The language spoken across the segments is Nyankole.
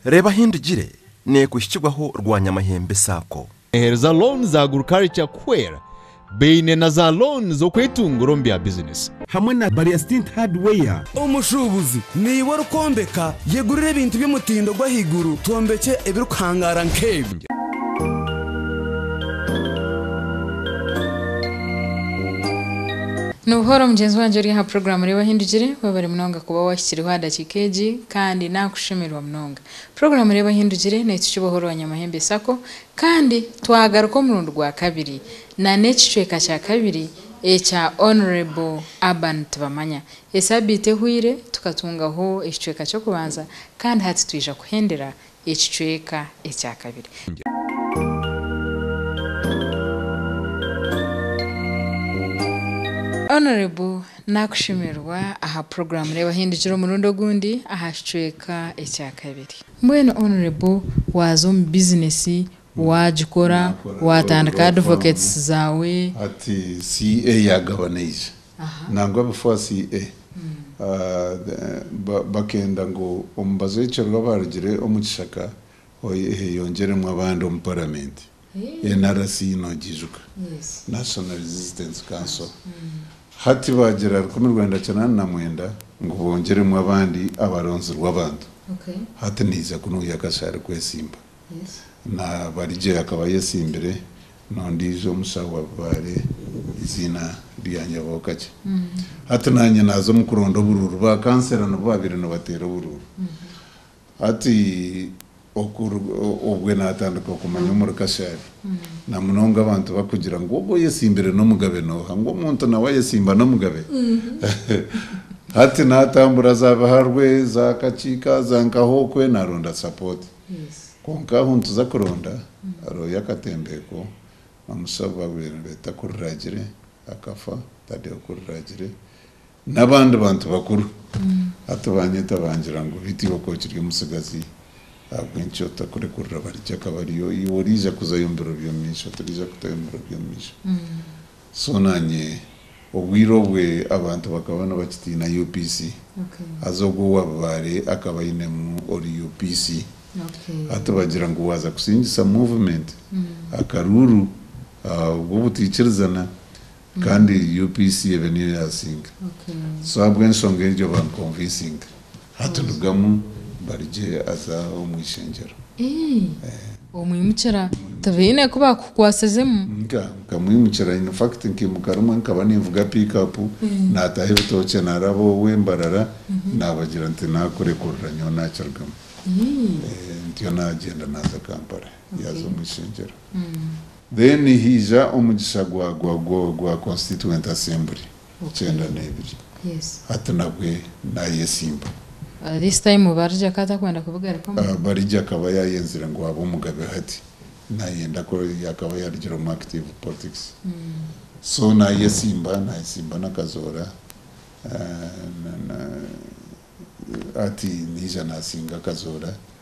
Reeba ahi ndigire, nekuhikirwaho rwanyamahembe saako. Eheru za loan za agriculture kuhwera, baine na za loan z'okwetungura omu bya bizinesi. Hamwe na Barya Stint Hardware. Omushuubuzi naiwe orikwombeka, yegurire ebintu by'omutindo gw'ahaiguru twombekye ebirikuhangaara nk'ebi. Ni buhoro mugyenzi wangye ori aha puroguraamu Reeba Ahi Ndigire. Webare munonga kuba wahikiriho aha dakiika egi. Kandi nakushemererwa munonga. Puroguramu Reeba Ahu Ndugire n'ekyo Kibohora Owaanyamahembe Sacco kandi twagaruka omurundi gwa kabiri na n'ekicweka kya kabiri ekya Honourable Urban Tibamanya. Esaabiiti ehweire tukatungaho ekicweka ky'okubanza kandi hati twija kuhendera Ekicweka ekya kabiri. Honourable nakushemererwa aha program reebaho endigira omurundi ogundi aha kicweka ekya kabiri. Mbwenu Honourable waaza omu business Waagikora, waatandika advocates zaawe. Hati CA yaagabanaije nangwa before CA bakenda ngu omubazi ow'ekiruga abaarugire omu kishaka eyeyongyeremu abandi omu paramenti, NRC noogiijuka, National Resistance Council. Hati baagira rukumi rwenda kinaana na mwenda ngu boongyeremu abandi abaronzirwe abantu. Hati naija kunuuya akashaari kwetsimba. Nabarije akaba ayetsimbire n'ondiijo omushaho wa bibaare eiziina rya Nyabokakye. Hati naanye naaza omu kuronda oburuuru. Ba kansera nibo baabaire nibateera oburuuru. Hati obwe naatandika kumanya omuri Kashaabe namunonga abantu barikugira ngu ogwo oyetsimbire n'omugabe nooha? Ngu omuntu nawe ayetsimba n'omugabe? Hati naatambura za Biharwe, za Kakiika, za Nkahookwe naaronda sapooti. Kwonka ahu nituza kuronda harihoyo akatembeeko Mamusa ogu baabaire nibeeta Kuriragire akafa, Tadeo Kuriragire n'abandi bantu bakuru. Hati baanyeta bangira ngu Biti oku okiri omutsigazi ahabw'enki otarikurekurira Barigye akaba ariyo iwe oriija kuzayo omu biro by'omumaisho, turiija kutayo omu biro by'omumaisho. So naanye obwire obwo abantu bakaba nibakitiina UPC, haza ogwo owaabibaare akaba ainemu ori UPC. Hati bagira ngu waaza kusingisa movement, akaruuru, obwo obutaikirizana kandi UPC ebe niyo yaasinga. So ahabw'enshonga egyo bankonviisinga. Hati rugamu mbarugye aza omu ishengyero. Omwimukira tibaine ku baakukukwasizemu? Nkamwimukira in fact nkimuka rimwe nkaba ninvuga pick up naataho ebitookye naaraba owe Mbarara naabagira nti naakurekurira nyowe naakirugamu. Ntyo naagyenda naaza Kampala yaaza omu ishengyero. Then haija omugisha gwa gwa gwa constituent assembly. Okyenda n'ebiri. Hati nabwe nayesimba. This time Barigye akaba atakwenda kubigarukamu. Barigye akaba yayenzire ngu abe omugabe hati nayenda ku yakaba yarugire omu active politics. So nayesimba nayesimba nakazoora hati naija nasinga akazoora.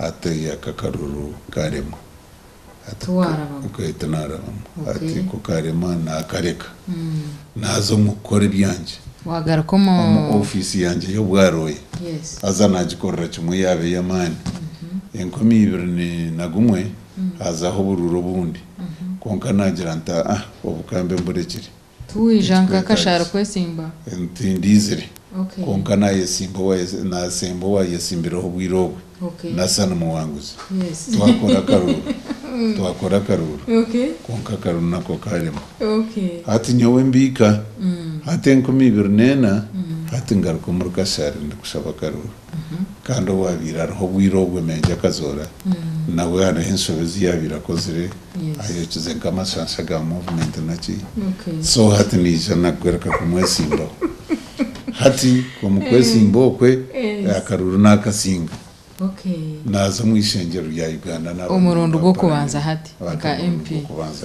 Ati Aka akaruru karema. Ati Ati Naarabamu. Ati Ku karema naakareka. Naaza omu kukora ebyangye. Omu ofiisi yangye y'obwarooya. Haza naagikorera kimwe yaaba ey'amaani. Enkumi ibiri na gumwe hazaho oburuuru obundi. Kwonka naagira nti, Aa, obu kambe mburekire. Tiwaija nka akashaari kwetsimba. Tindiizire. Kwonka naayesimba owaayesimbireho obwire obwe. Nasa nimuwanguzi. Twakora akaruuru. Twakora akaruuru. Kwonka akaruuru nako kaarema. Hati nyowe mbiika. Hati enkumi ibiri n'ena. Hati ngaruka omuri kashaari ndikushaba akaruuru. kandi owaabaire ariho obwire obwo emeeja akazoora, nawe hariho enshobe ezi yaabaire akozire, ayokize nk'amasaasi ga movumenti naki, so hati naija naakwereka kumwetsimbaho. Hati omu kwetsimba okwe, akaruru naakatsiinga, naaza omu ishengyero rya Uganda naaba omurundu gw'okubanza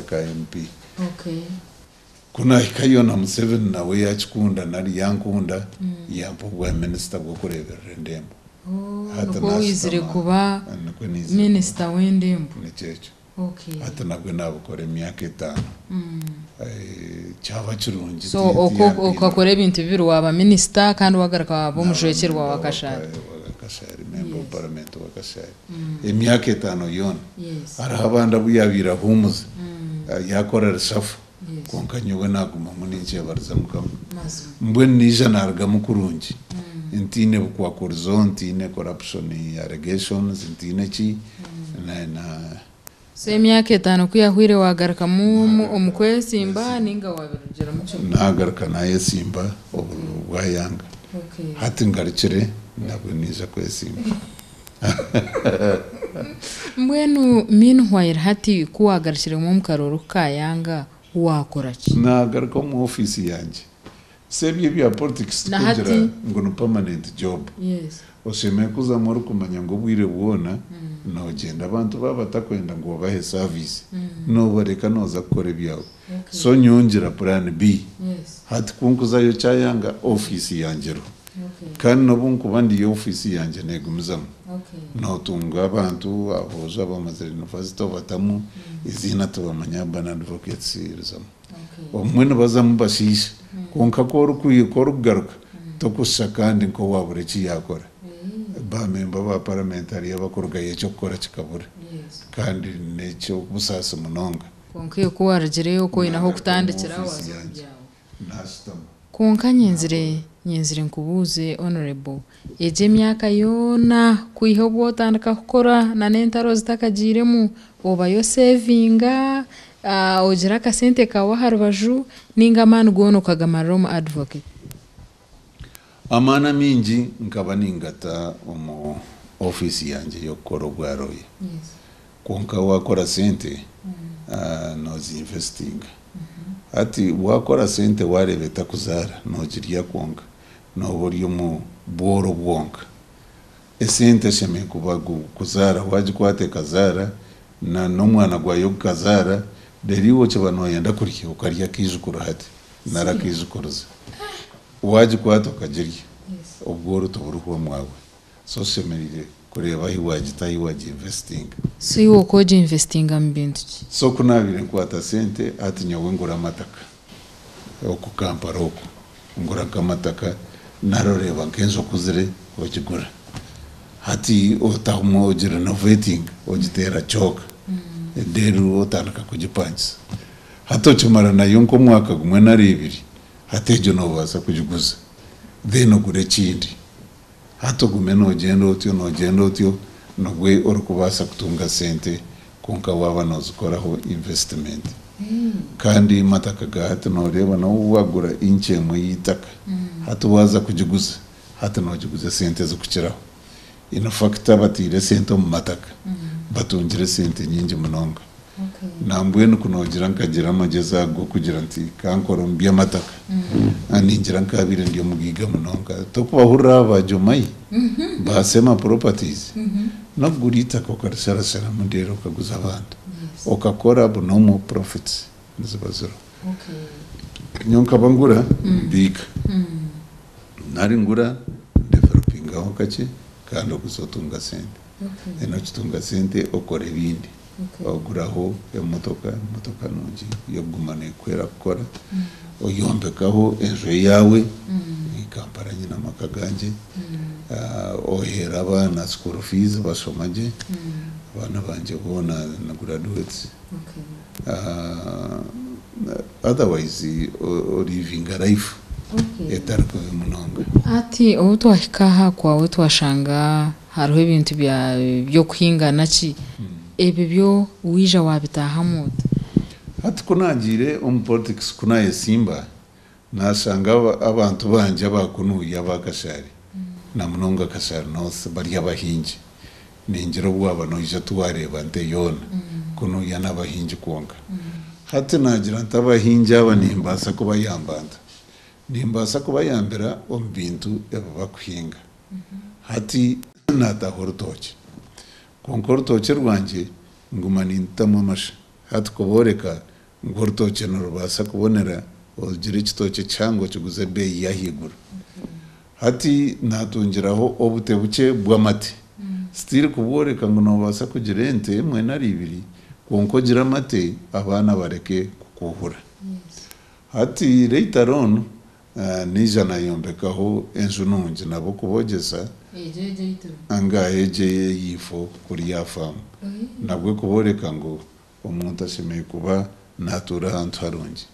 ka MP. Ku naahikayo na Museveni nawe yaakikunda nari yaankunda yampa obwaminisita bw'okureeberera endembo. Hati Nikwo waizire naashutama. kuba Nikwo naizire kuba. minisita w'endembo. Nikyo ekyo. Okay. Hati nabwe naabukora emyaka etaano. Eh, Kyaba kirungi So ti- oko- tiyampinga. okakora ebintu bibiri waaba minisita kandi waagaruka waaba omujwekyerwa wa Kashaari. Naaba memba wa Kashaari, memba wa Yes. paramenti wa Kashaari. emyaka etaano yoona. Hariho abandi abu yaabaire ahuumuze, yaakora reshaffle, kwonka nyowe naagumamu ninkyebariza Mukama. Mbwenu naija naarugamu kurungi. Ntaine bukwakurizo, ntaine corruption allegations, ntaine ki. So emyaka etaano ku yahwaire waagarukamu omu kwetsimba nainga waabirugiremu kimwe? Naagaruka naayetsimba obu bwayanga. Hati ngarukire nabwe naija kwetsimba. Mbwenu meanwhile hati ku waagarukiremu omu karoori ku kaayanga, waakora ki? Naagaruka omu ofiisi yangye Si ebyo ebya politics tikugira ngu ni permanent job. Oshemeire kuzamu orikumanya ngu obwire bwona nogyenda abantu baba batakwenda ngu obahe service nobareka noza kukora ebyawe. So nyowe ngira plan B hati ku nkuzayo kyayanga office yangye eriho kandi nobu nkuba ndiyo office yangye negumizamu notunga abantu aboojo abamazire university obatamu eiziina tubamanya Urban Advocates erizamu. Obumwe nibazamu bashiisha, kwonka ku orikugaruka tokushusha kandi nk'owaabura eki yaakora. Baamemba ba Paramenti hariyo abakurugayo eky'okukora kikabura, kandi n'eky'obusaasi munonga. Kwonka ku waarugireyo, ku oine ahu kutandikira, waaza omu byaawe. Kwonka nyenzire nyenzire nkubuuze Honourable, egyo emyaka yoona kwiha obu otandika kukora na n'entaro zitakagiiremu, obayo osevinga, ogira akasente kaawe aha rubaju nainga amaani goona okagamarira omu Advocate? Amaani amaingi nkaba ningata omu ofiisi yangye y'okukora obwa looya. Kwonka waakora sente nooziinvesitinga. Hati waakora sente waareeba etakuzaara noogirya kwonka, nooba ori omu bworo bwonka. Esente eshemereire kuba kuzaara, waagikwata ekazaara, n'omwana gwayo gukazaara, reero iwe okiba nooyenda kurya okarya akaijukuru hati nari akaijukurizi. Waagikwata okagirya, obworo tiburiho omwawe. So oshemereire kureeba ahi wagita ahi wagi investinga. So iwe oku ogi investinga mu bintu ki? So ku naabaire nkwata sente hati nyowe ngura amataka oku Kampala oku ngura nk'amataka nari oreeba nk'enju okuzire ogigura hati otamu ogi renovatinga ogiteera kyoka reero otandika kugipangisa hati okimara nayo nk'omwaka gumwe nari ebiri hati egyo noobaasa kugiguza then ogure ekindi. Hati ogume noogyenda otyo noogyenda otyo nibwo orikubaasa kutunga sente kwonka waaba noozikoraho invesitimenti. Kandi amataka ga hati nooreeba nawe waagura inci emwe y'eitaka hati waaza kugiguza, hati noogiguza esente zikukiraho. Inifakiti abateire esente omu mataka batungire esente nyingi munonga. Nambwenu ku noogira nkagira amagyezi ago g'okugira nti, Ka nkore omu by'amataka, ningira nkaabaire ndi omugaiga munonga. Tokubahurira abo ba Jomai, ba Sema Properties? N'okugura eitaka okarisharasharamu reero okaguza abantu, okakora buna omwo profits niziba ziriho. Nyowe nkaba ngura mbiika. Nari ngura ndevelopingaho kakye kandi okuza otunga sente. then okitunga sente okora ebindi oguraho emotoka emotoka nungi eyokuguma nekuhwera kukora oyombekaho enju eyawe eyi Kampala nyine amaka gangye ohera abaana school fees bashoma gye abaana bangye boona ni graduates otherwise o livinga life etari kubi munonga. Hati obu twahika aha kwawe twashanga Hariho ebintu bya by'okuhingana ki ebyo byo waija waabitaahamu ota? Hati ku naagiire omu politics ku naayesimba, naashanga abantu bangye aba kunuuya aba Kashari na munonga Kashari North bari abahingi. Ningira obu waaba noija tiwareeba nte yoona kunuuya n'abahingi kwonka. Hati naagira nti abahingi aba nimbaasa kubayamba nta? Nimbaasa kubayambira omu bintu ebi bakuhinga. Hati naataaha orutookye. Kwonka orutookye rwangye nguma nindutamu amashe. Hati ku booreka ngu orutookye nirubaasa kubonera, ogira ekitookye kihango kiguza ebeeyi y'ahaiguru. Hati naatungiraho obute bukye bw'amate. Sitiiri ku bwooreka ngu noobaasa kugira ente emwe nari ibiri, kwonka ogire amate abaana bareke kukuuhura. Hati reitaro onu Naija naayombekaho enju nungi nabo kubogyeza anga egi eyaitu kuri yaafamu, nabwe kubooreka ngu omuntu ashemereire kuba naatuura ahantu harungi.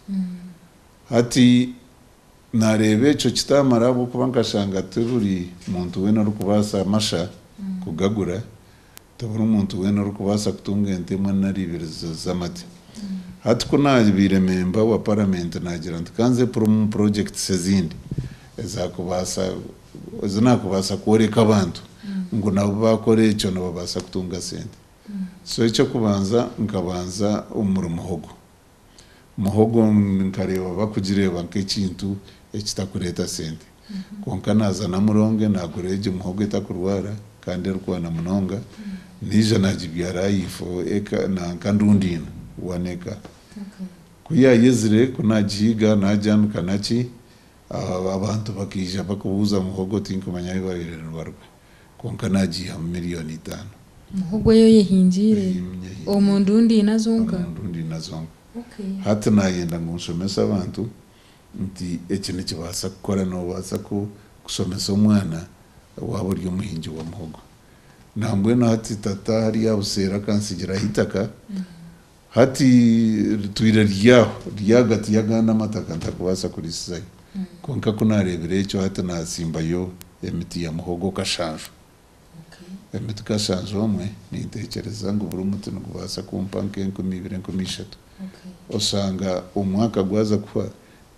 Hati naareeba ekyo kitaamara ahabw'okuba nkashanga tiburi muntu weena orikubaasa amasha kugagura, Tiburi muntu weena orikubaasa kutunga ente emwe nari ibiri z'amate. Hati ku naabaire memba wa Paramenti naagira nti ka nze purumu purojekitisi ezindi ezi naakubaasa kworeka abantu ngu nabo baakora ekyo nibabaasa kutunga sente. So eky'okubanza nkabanza omu murimo ogu. Muhogo nkareeba bakugireeba nk'ekintu ekitakureeta sente. Kwonka naaza namuronge naagura egyo muhogo etakurwara kandi erikwana munonga, naija naagibyara aha ifo eka nanka ndundi ina, one eka. Ku yaayezire ku naagihiga naagyanika naki, abantu bakaija bakubuuza muhogo tinkumanya ahu baabaire nibaruga. kwonka naagiihamu milioni itaano. Muhogo ei oyehingiire? Ei nyehingiire. Omu ndundi ina zonka? Omu ndundi ina zonka. Okay. Hati naayenda ngu nshomese abantu nti eki nikibaasa kukora, noobaasa kushomesa omwana waaba ori omuhingi wa muhogo. Nambwenu hati tata hariya abuseeri akansigiraho eitaka, Hati ritwire riri aho, riri ahagati y'agandi amataka ntarikubaasa kuriisizayo. Kwonka ku naareebire ekyo, hati naatsimbayo emiti ya muhogo kashanju. Emiti kashanju omwe ninteekyereza ngu buri muti nigubaasa kumpa nk'enkumi ibiri, enkumi ishatu. Oshanga omwaka gwaza kuhwa,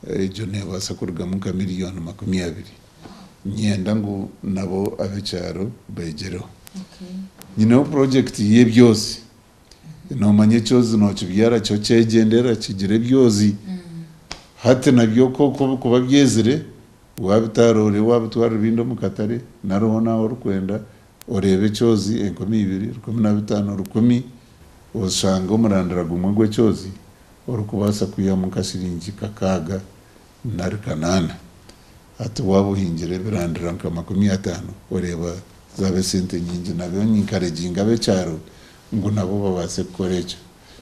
egyo neebaasa kurugamu nka miliyooni makumi abiri. Niinyenda ngu nabo ab'ekyaro beegyereho. Nyineho purojekiti y'ebyozi nomanya ekyozi nokibyara kyo kyegyendera kigira ebyozi hati nabyo kwonka obikuba byezire wabitaara orebe wabitwara ebindi omukatare nari hoona ahu orikwenda oreebe ekyozi enkumi ibiri, rukumi na bitaano, rukumi oshange omurandira gumwe gwekyozi orikubaasa kwihamu nka shiringi kakaaga Nari Kanaana. Ati, Waaba ohingire ebirandira nka makumi ataano, oreeba zaaba esente nyingi nabyo ninkareginga ab'ekyaro ngu nabo babaase kukora ekyo.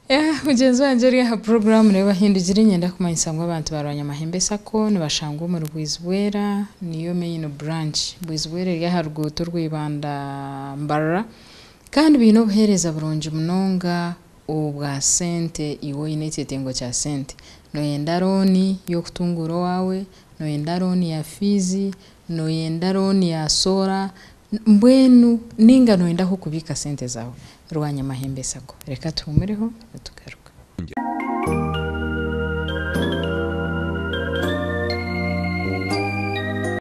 Eeh mugyenzi wangye ori aha puroguraamu niwe bahindugire nyenda kumanyisa ngu abantu ba Rwanyamahembe sacco nibashangwa omuri Bwizibwera niyo main branch. Bwizibwera eri aha ruguuto orwa Ibanda Mbarara kandi baine obuheereza burungi munonga obwa sente, iwe oine ekyetengo kya sente, noyenda loan yokutunguura owaawe, noyenda loan ya fees, noyenda loan ya solar, mbwenu ninga noyenda ahu okubiika sente zaawe, Rwanyamahembe sacco. Reka tuhuumureho nitugaruka.